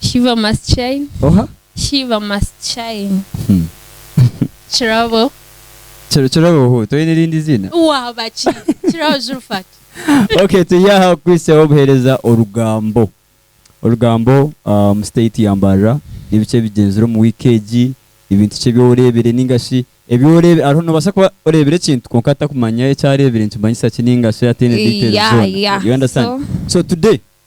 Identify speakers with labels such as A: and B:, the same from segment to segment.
A: Shiva
B: must shine. Oha? Shiva must shine. Kirabo. Kiro kirabo
A: hu toyine erindi ziina? Waaba ki?
B: Kirabo Zulfat. Okay turi
A: aha kukwisaho obuhereza orugambo. Orugambo ah, omu state ya Mbarara nibiki ebigyenzire omu week egi, ebintu ki ebi orebire ninga shi ebi orebe hariho nobasa kuba orebire ekintu kwonka atakumanya eki arebire nikimanyisa ki ninga shi atine details Yeah, zoona. yeah. You understand? So, So today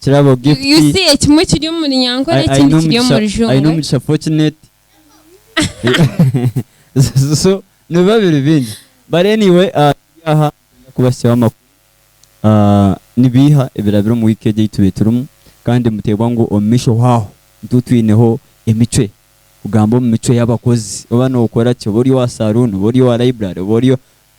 A: Kirabo Gift You see ekimwe kiri
B: omuri Nyankore ai- aine ekindi kiri omugisha omuri aine
A: Jungwe. omugisha fortunate so nibiba biri bingi but anyway ah, turi aha nikwenda kubahitsyaho amakuru ah, ni biiha ebirabire omu week egi ei tube turimu kandi muteebwa ngu omu maisho hwaho nitu twineho emicwe kugamba omu micwe y'abakozi oba nookora ki oba ori owa saloon oba ori owa library oba ori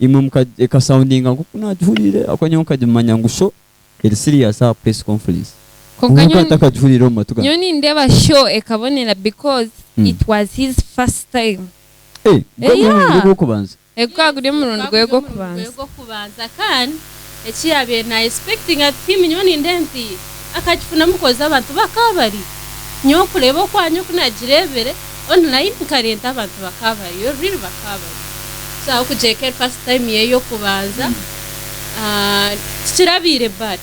A: imwe muka eka soundinga nkoku nagihuriire ahakuba nyowe nkagimanya ngu show eri serious aha press conference Kwonka kwonka nyowe ntakagihuriire omu matu nyowe gangye.
B: nindeeba show ekabonera because Mm. it was his first time Eh, gwe Eh,
A: omurundi gwe yeah. gwokubanza.
C: Eh, gukaba guri omurundi gwe gwokubanza. Kandi eki yaabaire na expectinga nti him nyowe nindeeba nti akakifunamu coz abantu bakaba bariyo. Nyowe okureeba okwangye oku naagireebire online nkareeba abantu bakaba bariyo really bakaba bariyo. So ahabw'okugira eka eri first time ye y'okubanza tikirabaire bad.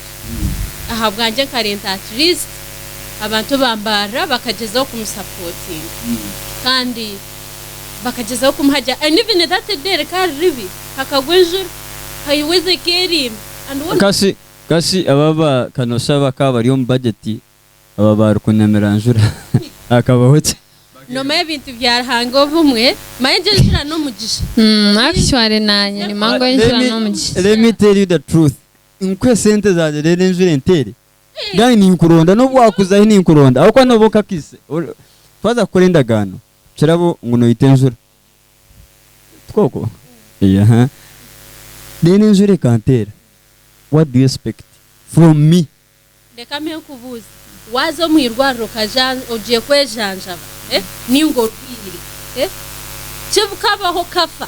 C: Ahabwangye nkareeba at least abantu bambaarira bakagyezaho kumu supportinga kandi. bakagyezaho kumuhagira and even that day rikaari ribi hakagwa enjura haihwa eze ekeerimba and wona Kasi kasi
A: aba aba kanosa bakaba bari omu budget aba baari kunyamira njura hakabaho ki? Nomanya
C: ebintu bya Ruhanga obumwe manya egyo enjura n'omugisha. Umm actually
B: nanye nimanya ngu enjura n'omugisha. Let me tell you the truth
A: nkuhe sente zangye reero enjura enteere? Gani ninkuronda, n'obu waakuza ahi ninkuronda, ahabw'okuba nooba okakise. Twaza kukora endagaano, kirabo ngu noita enjura. Tikooko? Eeha. Then enjura ekanteera, what do you expect from me? Reka mbe
C: nkubuuze, waaza omu irwariro okaja ogiye kwejanjaba, nainga orwaire, kikabaho okafa,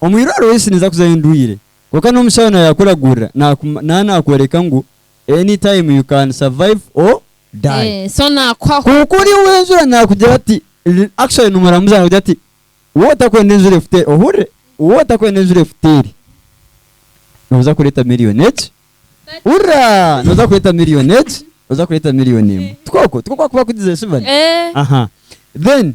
A: Omwirwariro isi ninza kuzayo ndwaire, kwonka n'omushaho nawe yakuragurira nawe nakworeka ngu any time you can survive or die. So nakuhaho.
B: Kwonka ori ow'enjura
A: nakugira ati, actually nomuramuzi nakugira ati wowe otakwenda enjura efute eri, ohurire, wowe otakwenda enjura efute eri noza kureta million egi, hurra, noza kureta million egi, oza kureta million emwe. Tikwo kwo? Tikwo kwakuba kugize shi bani? Aha, then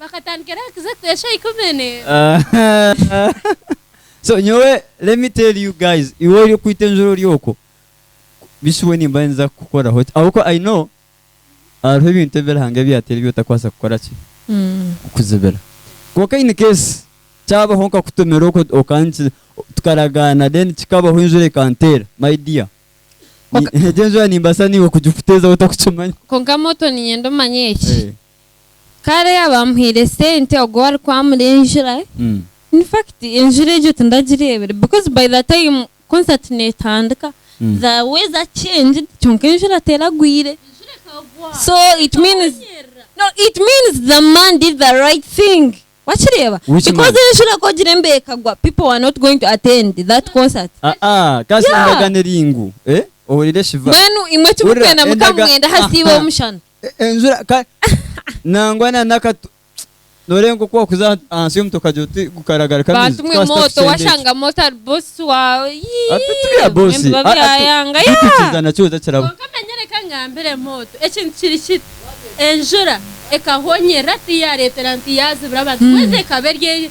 A: Bakatandika
C: era kuza
A: kuteesha oikumene. So nyowe let me tell you guys iwe ori okwita enjura ori okwo bishuwe nimba ninza kukukoraho ki ahabw'okuba I know hariho ebintu ebi Ruhanga ebi yateera ebi otakwaasa kukora ki kukuzibira. Kwonka in case kyabaho nkakutomera okwo okankiza tukaragaana then kikabaho enjura ekanteera my dear Kwonka- egyo enjura nimbaasa niiwe kugikuteezaho otakukimanya. Kwonka moto niinyenda
B: omanye eki. Kare yaaba amuhaire sente ogwo arikwamura enjura, in fact enjura egyo tindagireebire because by the time concert netandika the weather changed kyonka enjura teragwire so it means no it means the man did the right thing wakireeba Which man? because enjura ku ogira embeho ekagwa people were not going to attend that concert Aa-aa, kaasha Yeah.
A: endagano eri ngu, eh, ohurire Shiva. mbwenu imwe Hurira, timukwendamu
B: ka endaga- mugende aha siiba omushana enjura ka
A: nangwa na n'akatu norenga nk'oku wakuza aha- ahansi y'omuti okagira oti gukaragaruka amaizi bantu mwe twahita moto
B: tusenda eki. washanga moto ari bosi wawe yii, Ati turiya
A: bosi. mwembi Ah, ah, babyayanga tu- yaa.
B: tukikiza nakyo oza
A: kirabo Kwonka manya reka ngambire
C: moto ekintu kiri kiti enjura ekahonyerera tiyareetera nti yaazibira abantu kwezi ekaba eri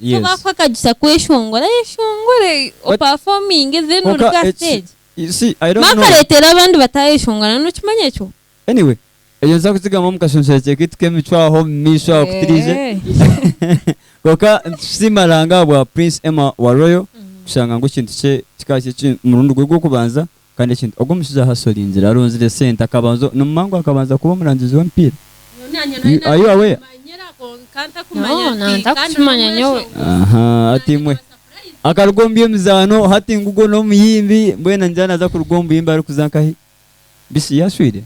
B: Niyo bakuha akagisa kweshongora, ayeshongore opafominge then oruge aha stage.
A: Mara akaretera abandi
B: batayeshongora, nokimanya ekyo? Anyway,
A: ekyo nituza kukigarukamu omu kashonshorekye kaitu k'emicwe aho omumaisho aho kutirize. Kwonka nitusiima Ruhanga ahabwa Prince Emma wa Royal kushanga ngu ekintu kye kikaba kiri omurundi gwe gw'okubanza Kandi ekintu ogu omushaija ahashoringire aronzire sente akabanza nimumanya ngu akabanza kuba omurangizi w'emipiira? Are you aware? Ahaa hati imwe akaruga omu by'emizaano hati ngu ogwo n'omuyimbi mbwenu ningira naza kuruga omu buyimbi arikuza nkahi? Bishi yashwire?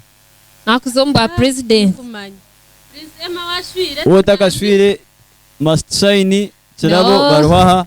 C: Wowe otakashwire
A: must shine, kirabo bariho aha.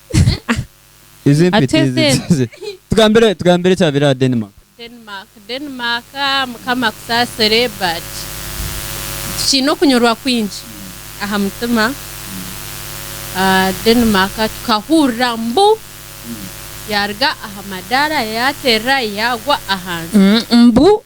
A: Ezi empeta Ate ezi then? zi- zi- tugambire tugambire ekyabaire aha Denmark Denmark Denmark
C: mukama akusaasire but tukiine okunyurwa kwingi aha mutima Ah, Denmark tukahurira mbu yaaruga aha madaara yaaterera yaagwa ahansi Mm, mbu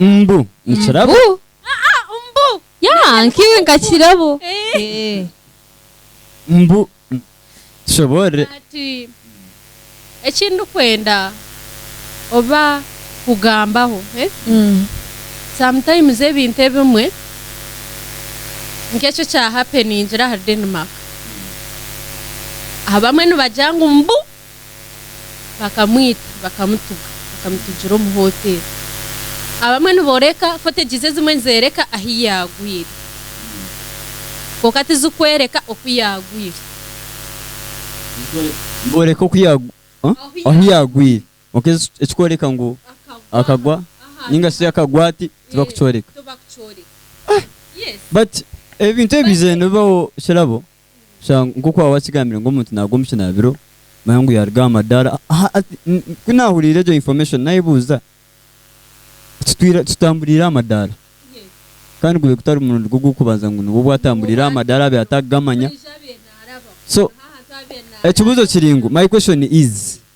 A: Mbu nikirabo.
C: Yaa nkaiwe
B: nka kirabo.
A: Mbu tushoboorore. Ati,
C: Eki ndikwenda oba kugambaho, sometimes ebintu ebimwe nk'ekyo ekya happeningira ahari Denmark, abamwe nibagira ngu mbu bakamwita bakamutuga bakamutugira omu hoteeri abamwe nibooreka fotegizi ezimwe nizeereka ahu yaagwire kwonka tizikworeka oku yaagwire
A: nibooreka oku ahu yaagwire kwonka ekikworeka ngu akagwa ninga shi akagwa ati tibakukyoreka but ebintu ebi bizaire nibibaho kirabo Sha nk'oku waaba wakigambire ngu omuntu naaruga omu kinaabiro, manya ngu yaaruga aha madaara. Ku naahuriire egyo information naayebuuza, Tutamburiire aha madaara? Kandi gube gutari murundi gwe ogw'okubanza ngu nibwo bwatamburiire aha madaara abe atakugamanya. So, ekibuuzo kiri ngu, My question is,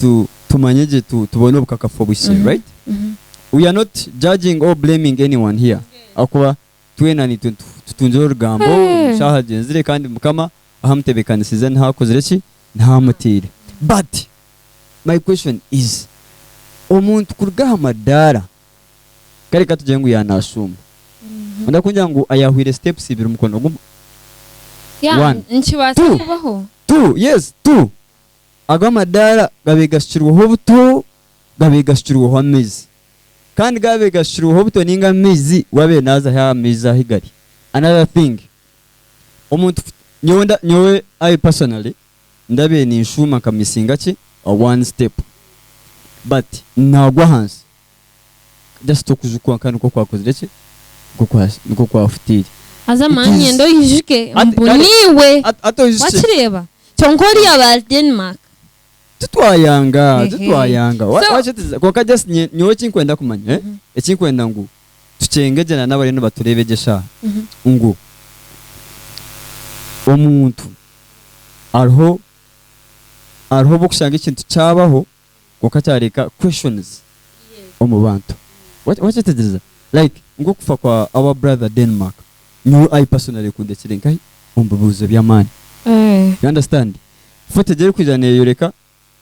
A: tu tumanye gye tu tubone obukakafu obuhitsire Mhm, right mhm. we are not judging or blaming anyone here ahakuba twena nitwe nitu tutungire orugambo Hey. eshaaha agyenzire kandi mukama ahamutebekanisize niho akozire ki niho amutaire but my question is omuntu kuruga aha madaara kare katugire ngu yanashuuma Ondi akungira ngu ayahwire steps ibiri mukono gumwe
B: Yeah, One. nikibaasa Two. kubaho two yes
A: two Ago amadaara gaabaire gashukirweho obuto, gaabaire gashukirweho amaizi. Kandi gaabaire gashukirweho obuto nainga amaizi, waabaire naaza haihi aha maizi ahu gari. Another thing, omuntu ku, nyowe nda, nyowe I personally, ndabaire ninshuuma nka missinga ki, one step. But naagwa ahansi. Just okujukwa nka nikwo kwakozire ki? Nikwo kwa- nikwo kwafutiire. Haza It mani is-
B: yenda oyijuke Ati- mbu kare- niiwe Hati- hati oyijuki ki? wakireeba kyonka ori aba Denmark titwayanga
A: Ehe. titwayanga Wa- So- wakyetiriza kwonka just nye- nyowe ekinkwenda kumanya eh, ekinkwenda ngu tukyenge gye na nabariyo nibatureeba egi eshaaha ngu omuntu hariho hariho obu okushanga ekintu kyabaho kwonka kyareeka questions omu bantu. Wakyetegyereza? Like nk'okufa kwa our brother Denmark, nyowe I personally kundekyire nkahi omu bibuuzo by'amaani. You understand? Footage erikwija neyoreka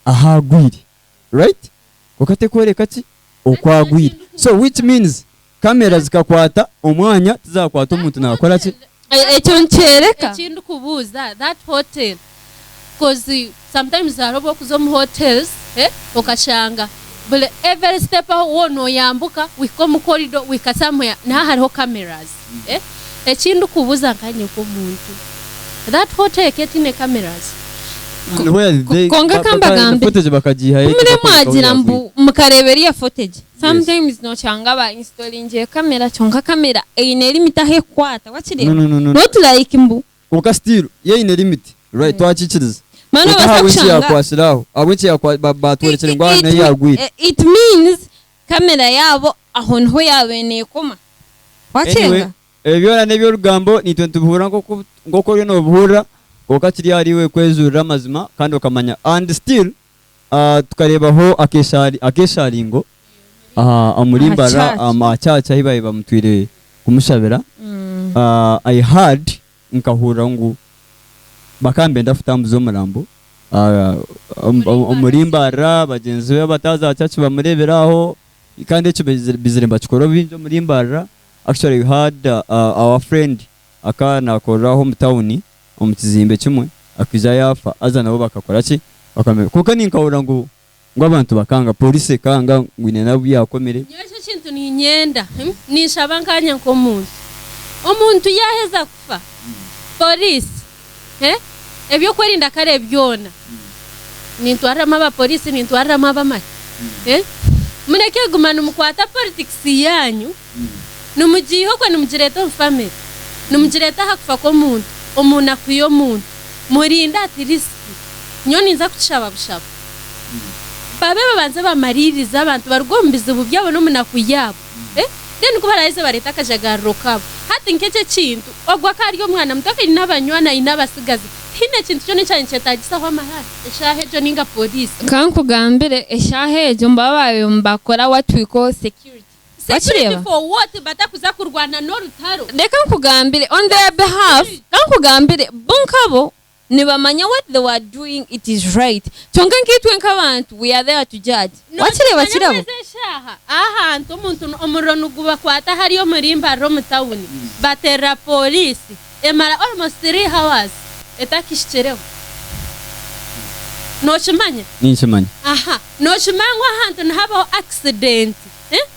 A: ahu agwire, right? Kwonka terikworeka ki? Oku agwire. So which means Kamera zikakwata omwanya tizakwata omuntu nakora ki? Ekyo nikyoreka.
B: Ekindi kubuuza
C: that hotel coz sometimes hariho obu orikuza omu hotels okashanga buri every step ahu woona oyambuka ohika omu corridor ohika somewhere niho hariho cameras. Eki ndikubuuza nkanye nk'omuntu that hotel eka etaine cameras?
B: Kwonka kambagambe
A: kumuremwagira
B: ngu mukareeba eriya footage Sometimes noshanga ba installingiire camera kyonka camera eine limit ahu ekukwata wakireeba not like mbu. Kwonka still yo
A: eine limit right twakikiriza kwonka ahabw'enki
B: yakwatsire aho ahabw'enki
A: batworekire ngu aha nahi yagwire. It means
B: camera yaabo aho niho yaabaire nekoma wakyega. Anyway ebyo byona
A: neby'orugambo naitwe nitubihuurira nk'oku oriyo nobihuurira kwonka kiri ahariiwe kwejuurira amazima kandi okamanya and still ah, tukareebaho akeshaari- akeshaaringo aha aha murimbo Aha ari church. aha aha church ahi baabaire bamutwire kumushabira. Ah, I heard, nkahurira ngu bakaba nibenda kutambuza omurambo ah, omu- omu- omurimbo ari aha, bagyenzi be abataazi aha church bamureebire aho, kandi ekyo baizire baizire nibakikora obwingi omurimbo ari aha. Actually I heard ah, our friend akaba nakorera aho omu tawuni omu kizimbe kimwe akaija yaafa haza nabo bakakora ki? Bakamuheereza. Kwonka ninkahurira ngu ngu abantu bakanga, pooriisi ekanga ngu haine n'abu yaakomire. Nyowe eki ekintu
C: niinyenda, ninshaba nkaanye nk'omuntu, omuntu yaaheza kufa, pooriisi he ebyokwerinda kare byona nintwariramu aba police nintwariramu abamaki he mureke kuguma nimukwata politics yanyu nimugiiha okwe nimugireta omu family nimugireta aha kufa k'omuntu omu naku y'omuntu murinde at least nyowe ninza kukishaba bushaba babe babanze bamaririze abantu baruge omu bizibu byabo n'omu naku yabo. Then ku baraheza bareete akajagariro kabo. Hati nk'ekyo ekintu, ogwo akaba ari omwana muto aine abanywani, aine abatsigazi. Tihaine kintu kyona ekyaba nikyetaagisaho amahara eshaaha egyo nainga poliisi. Ka nkugambire,
B: eshaaha egyo nibaba baabaire nibakora what we call security. Security for
C: what? Batakuza kurwana n'orutaro? Reka nkugambire,
B: on their behalf, ka nkugambire, bo nkabo Nibamanya what they were doing it is right kyonka nkaitwe nkabantu we are there to judge wakireeba kirabo. Nokimanyamu ezi eshaaha ahahantu
C: omuntu omuriro nigubakwata hariya omuri mbarara omu town baterera police emara almost three hours etakihikireho nokimanya? Ninkimanya. Aha nokimanya ngu ahahantu nihabaho accident eh.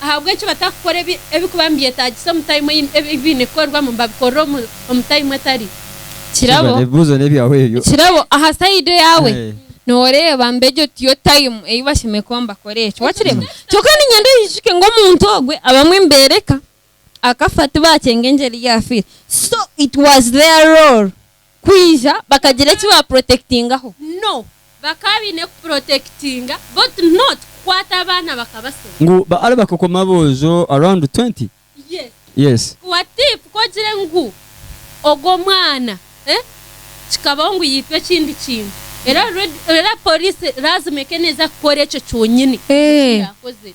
C: Ahabw'enki batakukora ebi ebikuba nibyetaagisa omu taimu ei ebi biine kukorerwamu babikorere omu omu taimu etari? Kirabo Ebyo ebibuuzo n'ebyawe ebyo.
B: kirabo aha sayidi yaawe Eh. nooreeba ngu egyo tiyo taimu ei bashemereire kuba nibakorera ekyo. Wakireeba? Kyonka niinyenda oyijuke ngu omuntu ogwe abamwe nibeereka akafa tibakyenga engyeri ei yaafiire. So it was their role. kwija bakagira eki ba protectingaho. No, bakaba
C: baine ku protectinga but not kukwata abaana bakabasya. Ngu ba are bakakoma
A: aboojo around twenty? Yes. Yes. What if ku
C: ogire ngu ogwo omwana eh kikabaho ngu yaitwa ekindi kintu era already era police lazima ekaba neeza kukora ekyo kyonyine eki yaakozire.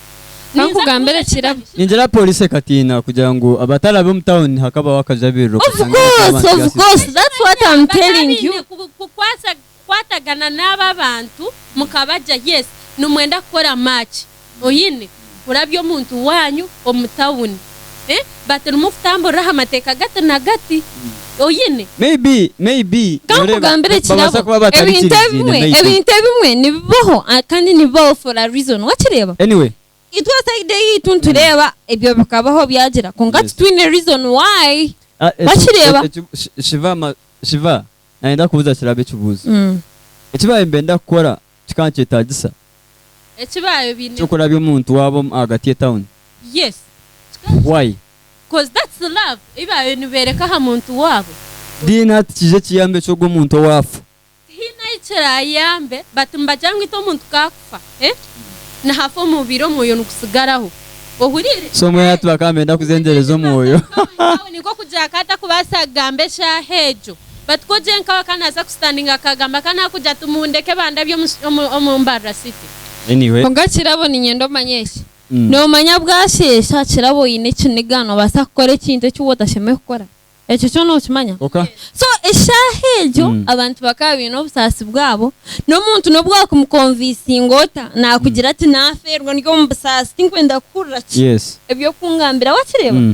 C: Ka nkugambire
B: ekirabo. Ningira poliisi
A: ekatiina kugira ngu abatarabe omu tawuni hakabaho akajabiriro Of kashangire course, k'abantu
B: of gaasisika. course. That's what I'm telling you. Mukaba mwine ku- kukwasa- kukwatagana
C: n'abo abantu mukabagya yes nimwenda kukora match oyine kurabya omuntu waanyu omu tawuni. Batirimu kutamburira aha mateeka gati na gati. Oine. Maybe, maybe,
A: Ka noreba, nkugambire ba-
B: babaasa ekirabo. kuba Ebintu batarikiriziine, ebimwe, maybe. ebintu ebimwe nibibaho ah, kandi nibibaho for a reason. Wakireeba? Anyway, Itwe
A: side
B: eyaitu nitureeba ebyo bikabaho byagira kwonka Yes. titwine reason why. ah, eki- Wakireeba? eki- eki- shi- Shiva, ma-
A: Shiva, nayenda kubuuza kirabo ekibuuzo. Eki baayembe ndakukora, Kikaba nikyetaagisa Eki
C: baayobineho. ky'okurabya omuntu waabo
A: omu ahagati y'etauni. Yes. Kikaba
C: nikyetaagisa.
A: Why? Coz
C: that's love ei baabaire nibeereka aha muntu waabo. Dean hati kiija
A: kiyambe ki ogwo muntu owaafa? Tihaine ahi
C: kiraayambe, but nibagira ngu itwe omuntu ku akufa, eh, nihafa omubiri omwoyo nigutsigaraho. Ohuriire? So mbwenu hati bakaba
A: nibenda kuzengyereza omwoyo. Omuntu aine kufa omu tauni, nk'okugira
C: akaba atakubaasa kugamba eshaaha egyo. But ko gye nkawe ka naza kustandinga akagamba ka nakugira ati mundeke bandabye omu mbarra city. Anyway. Konka
A: kirabo ninyenda
B: omanye eki, nomanya bwasheesha kirabo oyine ekiniga nobasa kukora ekintu eki wotashemereire kukora? Ekyo kyo nokimanya? Oka. So eshaaha egyo abantu bakaba baine obusaasi bwabo, nomuntu nobu wakumukonvisinga ota nakugira ati nafeerwa ndi omu busaasi tinkwenda kuhurira ki Yes.
A: ebyokungambira,
B: wakireeba?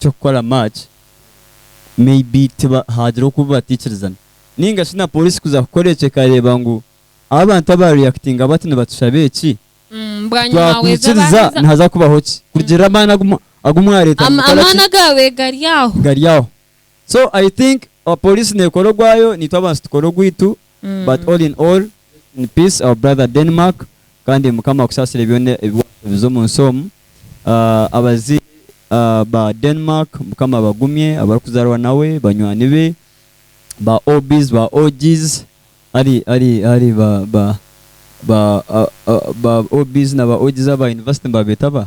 A: ky'okukora match maybe tiba hagira oku batikirizana ninga shi na police kuza kukora ekyo ekareba ngu abu abantu aba reactinga bati nibatushaba eki
B: titwakwikiriza
A: nihaza kubaho ki kurugirira amaani agu mwareta ngu
B: mukora ki gari aho. So
A: I think police nekora ogwayo naitwe abantu tukore ogwitu but all in all in peace our brother Denmark kandi mukama akusasire byona ebiwarukubiza omu nsi omu abaziire ba Denmark mukama abagumye abarukuzarwa nawe banywani be ba OBs ba OGs ari ari ari ba ba ba OBs na ba OGs aba university nibabeta abaha?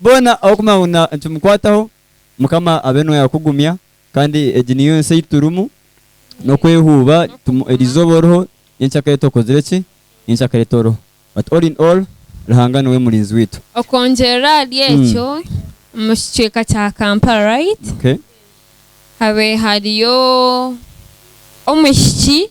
A: Boona abarikumanya ngu nikimukwataho, Mukama abe nooyo akugumya. Kandi egi niyo ensi ei turimu, n'okwehuuba. Eri izooba oriho, nyenkya kare tokuzire ki? Nyenkya kare toriho. But all in all, Ruhanga niwe murinzi waitu. Okwongyerera ahari
B: ekyo, omu kicweka kya Kampala right Okay.
A: habe
B: hariyo omwishiki.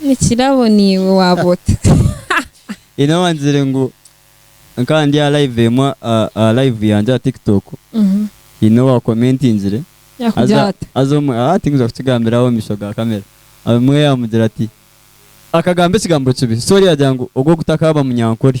A: Nikirabo
B: niiwe waaba ota. Haine
A: owangizire ngu nkaba ndi aha live emwe aha live yangye aha tiktok haine owa commentingire Yakugira ata? haza omwe tinkuza kukigambira aha omumisho ga camera omwe yamugira ati akagamba ekigambo kibi sorry yagira ngu ogwo gutakaaba munyankore.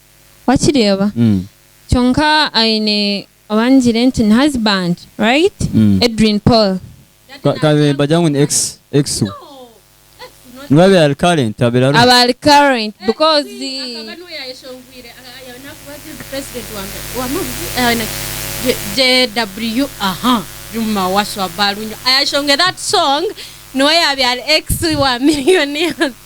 B: wakireeba kyonka aine owangire nti ni husband right edrine paul kare
A: nibagira ngu ni ex ex we niwe abaire ari current
C: abaire ariho aba ari current because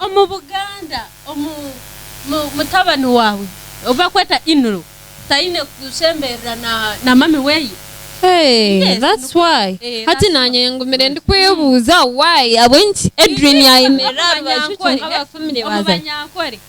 B: Omu Buganda,
C: mutabani waawe ou barikweta in-law taine kushemberera na mami
B: we? Hati naanye ngumire ndikwebuuza ahabw'enki Edrine yaayemerera aha rubaju kwonka Bafumire baazayo.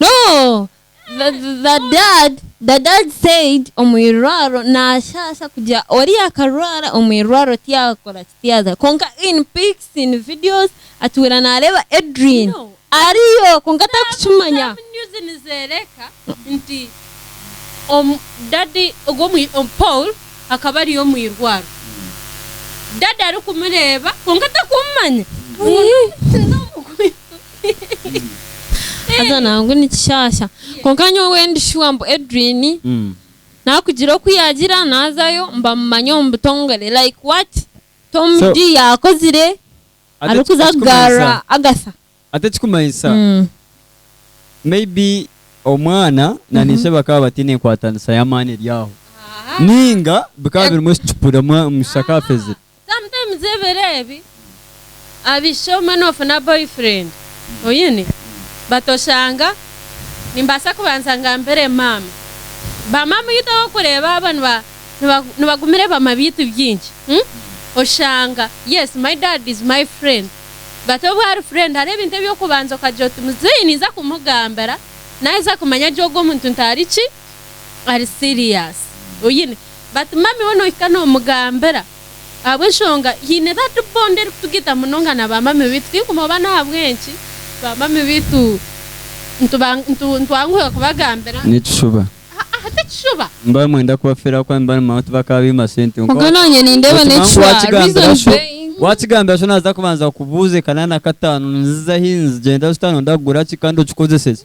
B: No the dad the dad said omwirwaro nashaasha kugira ori yakarwara omwirwaro tiyakoraki tiyaza kwonka in pics in videos atuura nareeba Edrine ariyo kwonka tarikukimanya. Some news nizereka
C: nti omu daddy ogwo Paul akaba ari omwirwaro daddy arikumureeba kwonka tarikumumanya ngu nomusinza omukristo.
B: Haza nangu ni kishaasha. Kwonka nyowe ndi shuwa ngu Edrine Mm. naakugira oku yaagira naazayo mbamumanye omu butongore like what? Tom So- Dee yaakozire Ate arikuza eki- kugarura ekikumanyisa- Agatha. Ate ekikumanyisa Mm.
A: maybe omwana na niishe bakaba bataine enkwatanisa y'amaani eri aho. Ninga bikaba birimu ekicupuri omwa- omushiki akafezire. Sometimes ebiro
C: ebi abaishiki obumwe nofuna boyfriend oyine but oshanga nimbaasa kubanza ngambire maama ba maama oyitu ahokureeba abo nibagumire bama baitu bingi oshanga yes my dad is my friend but obu ari friend hariho ebintu ebyokubanza okagira oti muzei ninza kumugambira naheza kumanya gu ogu omuntu ntariki ari serious oyine but mummy we nohika nomugambira ahabwenshonga hiine that bond erikutugita munonga na ba mummy baitu tinkumoba nahabwenki ba mummy baitu nitwanguhira kubagambira Nikishuba? Haa
A: tikishuba.
C: Nimba nimwenda
A: kubafeera ahabw'okuba nimba nimanya ngu bakaba baima sente kwonka Muga nanye nindeeba
B: nokimangu nekishwa wakigambira reason sho being. wakigambira sho
A: naza kubanza kubuuza ekanana kataano niziza ahi nizigyenda zita nonda kugura ki kandi okikozese ki.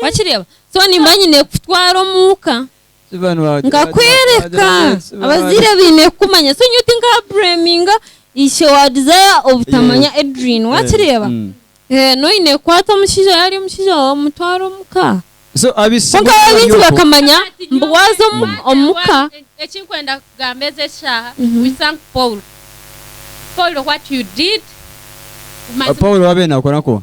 B: Wakireeba? So nimba nyine kukutwara omu ka, nkakworeka. Abazaire baine kukumanya. So nyowe tinkaabreminga ishe wa Desire obutamanya Edrine. Wakireeba? Mbwenu oine kukwata omushaija yaaba ari omushaija waawe omutware omu ka. Kwonka
A: bo baingi bakamanya
B: ngu waaza omu ka. Eki nkwenda
C: kugamba ezi eshaaha, we thank Paul. Paul what you did.
A: Paul waabire naakora nkoha?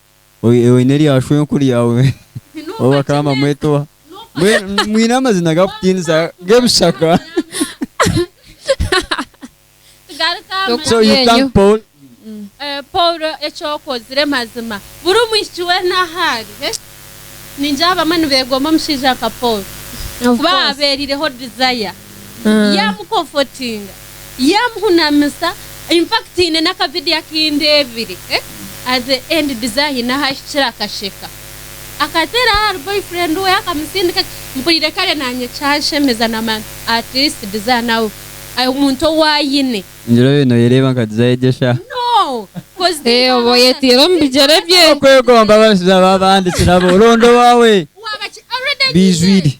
A: Oine oine erya shwenku ryawe ou bakaba nibamweta oha? Mbwenu mwine amazina gakutiinisa g'ebishaka. Tugaruke aha Toku- So mazima. you Yenyu. thank Paul. Eh, paulo
C: eki okozire mazima buri omwishiki weena ahu ari eh? ningira abamwe nibeegomba omushaija nka paulo Of kuba course. abeerireho desire Mm. yaamukomfotinga yamuhunamisa in fact haine naka video akindebire at the end Diza haine ahahikire akasheka akateera ahari boyfriend we akamusindika mpurire kare nanye kyanshemeza namanya at least Diza nawe omuntu owu ayine Angela oyo noyereeba
A: nka Diza egyo sha.
C: Eeh oba oyetiire omu
B: bigyere bye. Okwegomba abashiija
A: babandi kirabo. Ronda owaawe. Bijwire.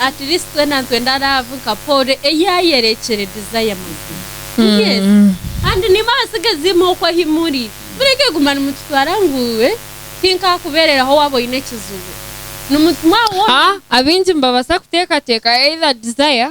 C: Atirisi twena nitwenda laavu nka Pauro ei yaayerekire Desire Magina. Yes. Kandi naimwe abatsigazi imwe okwo ahi muri, mureke kuguma nimututwara ngu eh, tinkaakubeereraho waaba oine ekizibu. Nimutumwa woona. Abaingi nibabaasa
B: kuteekateeka either Desire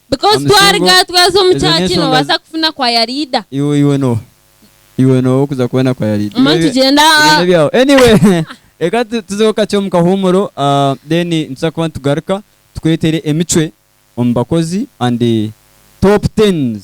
B: Because twaruga twaza omu church nobaasa kufuna choir leader. Iwe iwe
A: noha? Iwe noha okuza kubona choir leader? Mama nitugyenda Iwe aha.
B: nebyawe. Anyway
A: reka tu- tuzeho kakye omu kahuumuro ah, then nituza kuba nitugaruka tukwetere emicwe omu bakozi and top tens